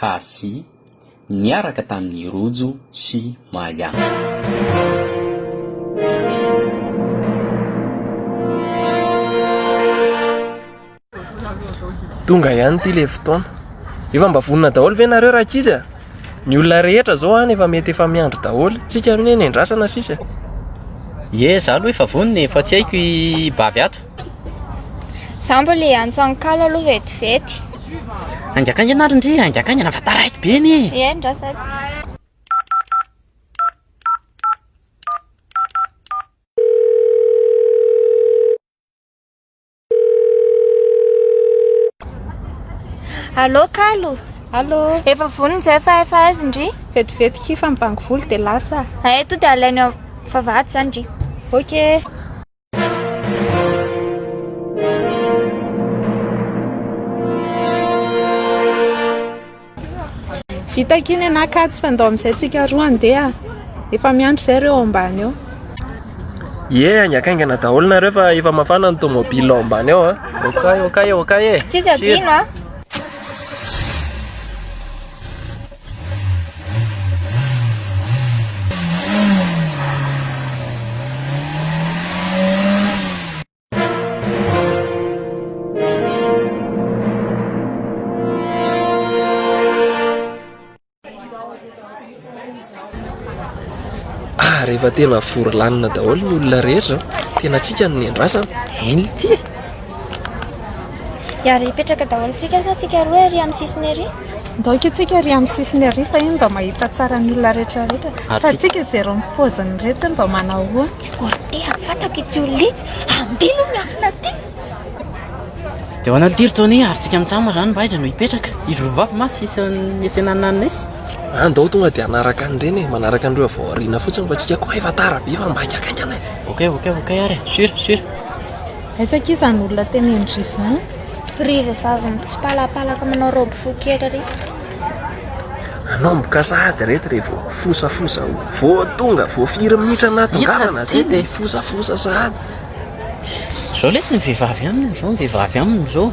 Hasy, niaraka tamin'i Rojo sy Maya. Tonga ihany ity ilay fotoana. Efa mba vonona daholo ve nareo rankizy a? Ny olona rehetra izao any efa mety efa miandry daholo. Tsika anie ny andrasana sisa e. Ie, za aloha efa vonona e, fa tsy haiko i Bavy ato. Za mbola hiantso an'i kalo aloha vetivety. Haingakaingana ary ndry, haingakaingana fa taraiky be anie e! Eny ndra sady. Allô kalo. Allô. Efa vonona zay fa efa aiza ndry? Vetivety ki fa mibango volo dia lasa. Eto dia alainao vavahady zany ndry. Ok. Vita k'iny ianà Kajy fa ndao amin'izay tsika roa handeha. Efa miandry izay ireo ao ambany ao. Ie, haingankaingana daholo nareo fa efa mafana ny tomobile ao ambany ao an. Ah. Okay, okay, okay. Tsisy adino an. Ah. rehefa tena vory lanina daholo ny olona rehetra tena tsika ny nendrasana milty Ary hipetraka daholo tsika sa tsika roa ery amin'ny sisiny ery? Ndao ika tsika ery amin'ny sisiny ery fa iny mba mahita tsara ny olona rehetra rehetra. Sa tsika jereo ny paoziny reto mba manao ahoana? Orte amin'ny fatako i Jiolitsy, ambilo ny afona aty! Dia hoan'I Aldir Tony ary tsika mitsam raha ny mba aiza no hipetraka? Izy roa vavy ma sisa niesena an'i Nannes? An, ndao tonga dia hanaraka an'i Reny e, manaraka an'ireo avy ao aoriana fotsiny fa tsika koa efa tara be fa mba haingakaingana e! Ok ok ok ary e, sur sur! Aiza akia izany olona tenenindry izany? Ry vehivavy mitsipalapalaka manao robe fohy kely ry. Manomboka sahady reto re vao fosafosa o. Vao tonga, vao firy minitra nahatongavana zay dia fosafosa sahady. Zao lesy ny vehivavy aminy, zao ny vehivavy aminy zao.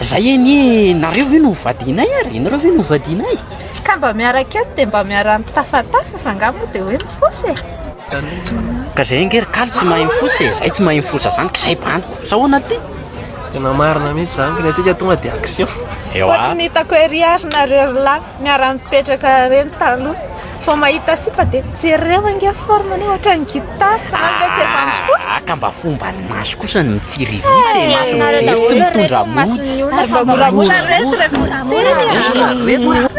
Zay anie nareo ve no ho vadianay ary? Ianareo ve no ho vadianay? Ka mba miaraka eto dia mba miara-mitafatafa fa nga moa dia hoe mifosa e. Ka zay ange ry kalo tsy mahay mifosa e, zay tsy mahay mifosa zany ka zay baniko. Sa ahoana ty? Tena marina mihitsy zany, ka ny antsika tonga dia action. Ewa. Ohatry ny hitako ery ary nareo roa lahy. Niara nipetraka reny taloha. Vao mahita sipa dia jereo ange forme anao ohatran'ny guitare. Zany ve tsy efa mifosa. Ah ka mba fomban'ny maso kosa ny mitsiriritra e. Maso mijery tsy mitondra mody. Ary mba moramora reto ry akoriteny a.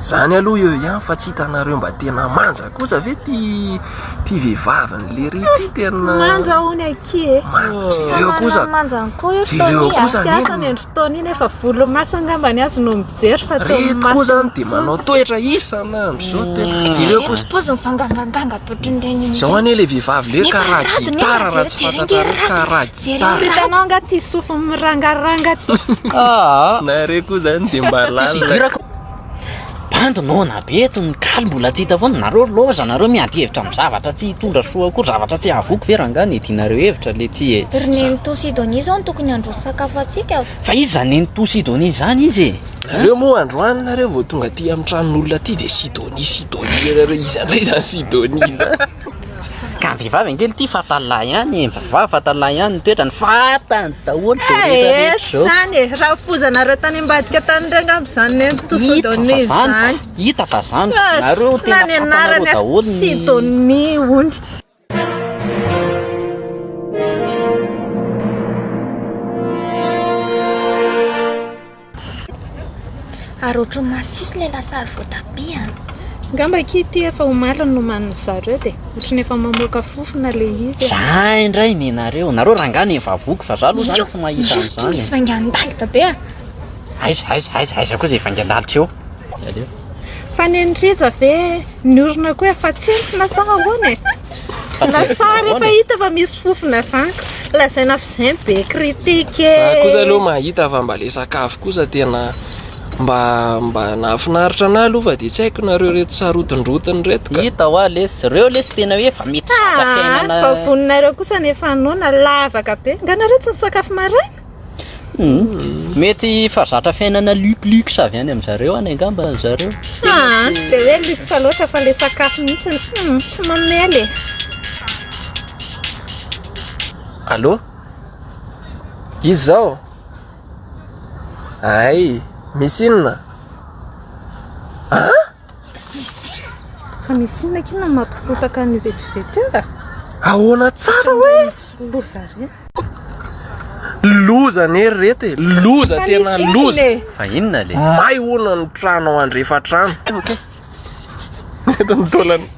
zany aloha eo ihany fa tsy hitanareo mba tena manja kosa ve ty ty vehivavin'ny lery ty tena manja hono aky e jereo kosa manja kosa jereo kosa ny andro taona iny efa volo maso angamba ny azy no mijery fa tsy reto koa zany dia manao toetra isan'andro zao tena jereo kosa pozy mifanganganganga ohatrin'ireny zao anie le vehivavy le karaha gitara raha tsy fantatrareo karaha Jereo ry raha. Hitanao nga ty sofiny mirangaranga ty. Aa nareo koa zany de mba lalina. Bandy noana be eto ny kaly mbola tsy hita foana nareo loza nareo miady hevitra am zavatra tsy hitondra soa akory zavatra tsy hahavoky ve rangah nidinareo hevitra le tsy etsy Ry Nenitoa sy Donia zao no tokony handroso sakafo antsika fa. Fa iza zany Nenitoa sy Donia zany izy e? Nareo moa androany nareo vao tonga aty am tranon'olona aty de Sidonie Sidonie nareo iza ndray zany Sidonie zany. Ka ny vehivavy ange ity fatal lahy ihany e, ny vehivavy fatal lahy ihany ny toetrany, fantany daholo izao rehetra rehetra izao. Eehh izany e, raha foizanareo tany ambadika tany ireo angamba izany ny to sodomy izany. Hita fa izany, hita fa izany, nareo tena fantanareo daholo ny. Sidomy hono. Ary ohatran'ny masisy ilay lasary voatabia an! Angamba akia ity efa omaly no nomanin'ny zareo dia ohatran'ny efa mamoaka fofona ilay izy an! Za indray ny nareo! Nareo rangahy no efa voky fa za aloha zany tsy mahita an'izany e! Io ity misy vaingan-dalitra be an! Aiza, aiza, aiza, aiza koa izay vaingan-dalitra io? Fa neny Rija ve niorina koa efa tsentsina sa ahoana e? Na sary efa hita fa misy fofona zany ka lazaina fa zay be critique e. Za kosa aloha mahita fa mba le sakafo kosa tena mba mba nahafinaritra anah aloha fa dia tsy haiko nareo reto sarotindrotiny reto ka. Hita hoa lesy, reo lesy tena hoe efa mety zaka fiainana. Fa voninareo kosa ny efa noana, lavaka be. Nga nareo tsy nisakafo maraina? Mety fa zatra fiainana lux lux avy any amin zareo any angamba ry zareo. Ah, tsy dia hoe luxe loatra fa ilay sakafo mihitsy no hmm, tsy mamela e. Allô? Izy izao? Ay, misy inona? Ah? Fa misy inona kay no mampipotaka an'io vetivety io a? Ahoana tsara hoe? Loza re. Loza anie ry reto e, loza tena loza. E. Fa inona le? May hono ny trano ao andrefa trano. Eto ny taolana.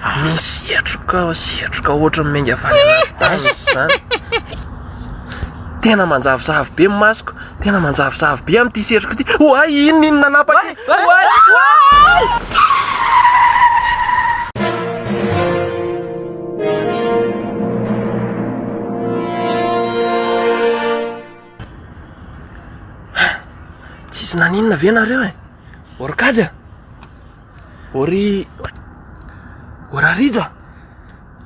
Misy setroka setroka ohatran'ny menga avy any anaty tany izany. Tena manjavozavo be ny masoko, tena manjavozavo be amin'ity setroka ity. Oay, inona inona nanapaka ity? Oay, oay! Tsisy naninona ve nareo e? Orkajy a! Ory... Orarija!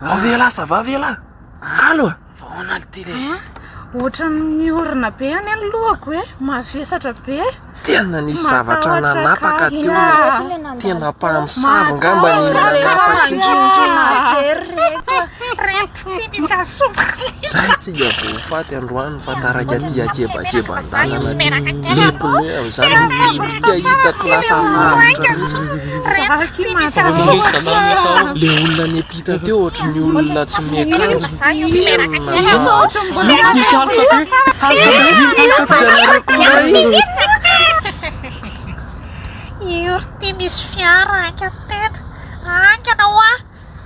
Vao ve ialahy ça va ve ialahy? Kalo a! Vahoana ity le! Ohatran'ny orina be any ny lohako e! Mavesatra be! Tena nisy zavatra nanapaka teo le tena mpamosavy ngamba ny nanapaka io! Zay tsy dia voafaty androany! Fa taraiky aty akebakeba an-dalana aty le pneu amin'izany mipitika hitako lasa lavitra mihitsy. Le olona niampita teo ohatry ny olona tsy miakanjo. Inona misy aloka be? Io ry ty misy fiara haingana tena, haingana hoa.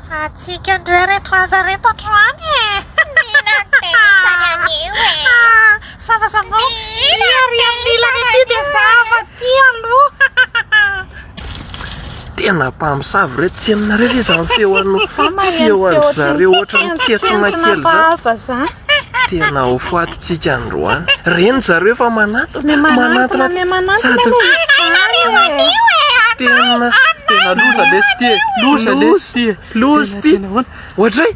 Fa antsika ndray reto aza reto androany e! Milan tena izany anio e! Zavazavao, ity ary amin'ny ilany ity dia zava ty aloha! Tena mpamosavy reto tsy henonareo ve izany feon'ny feon'dry zareo ohatran'ny tsentsona kely izany? Tena ho fatintsika androany. Reny zareo fa manatona, manatona sady tena tena loza lesy ty e. Loza lesy ty e. Loza ty. Ohatray.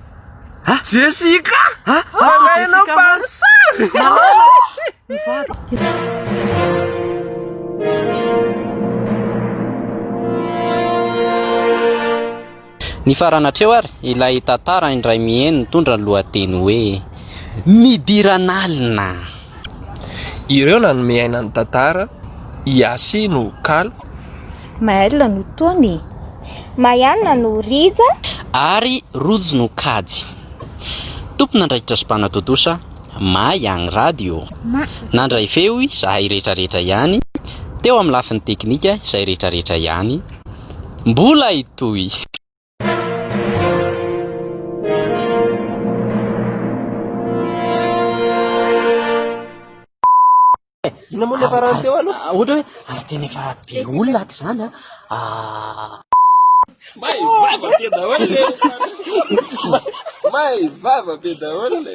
Ha? Jessica. Ha? Alaina barsa. Malala. Mivady. Nifarana hatreo ary ilay tantara indray mihaino nitondra ny lohateny hoe Nidiran'alina. Ireo nanome aina ny tantara, i Yassy no kalo. Maëlle no Tony. Maianna no Rija. Ary Rojo no kajy. Tompon'andraikitra sy mpanao tontosa, Maign Radio. Nandray feo izahay rehetrarehetra ihany, teo amin'ny lafiny teknika izay rehetrarehetra ihany. Mbola hitohy! Inona moa ilay farany teo aloha? Ah, ohatra hoe ary tena efa be olona ato izany an. Ah. May vava be daholo le. May vava be daholo le.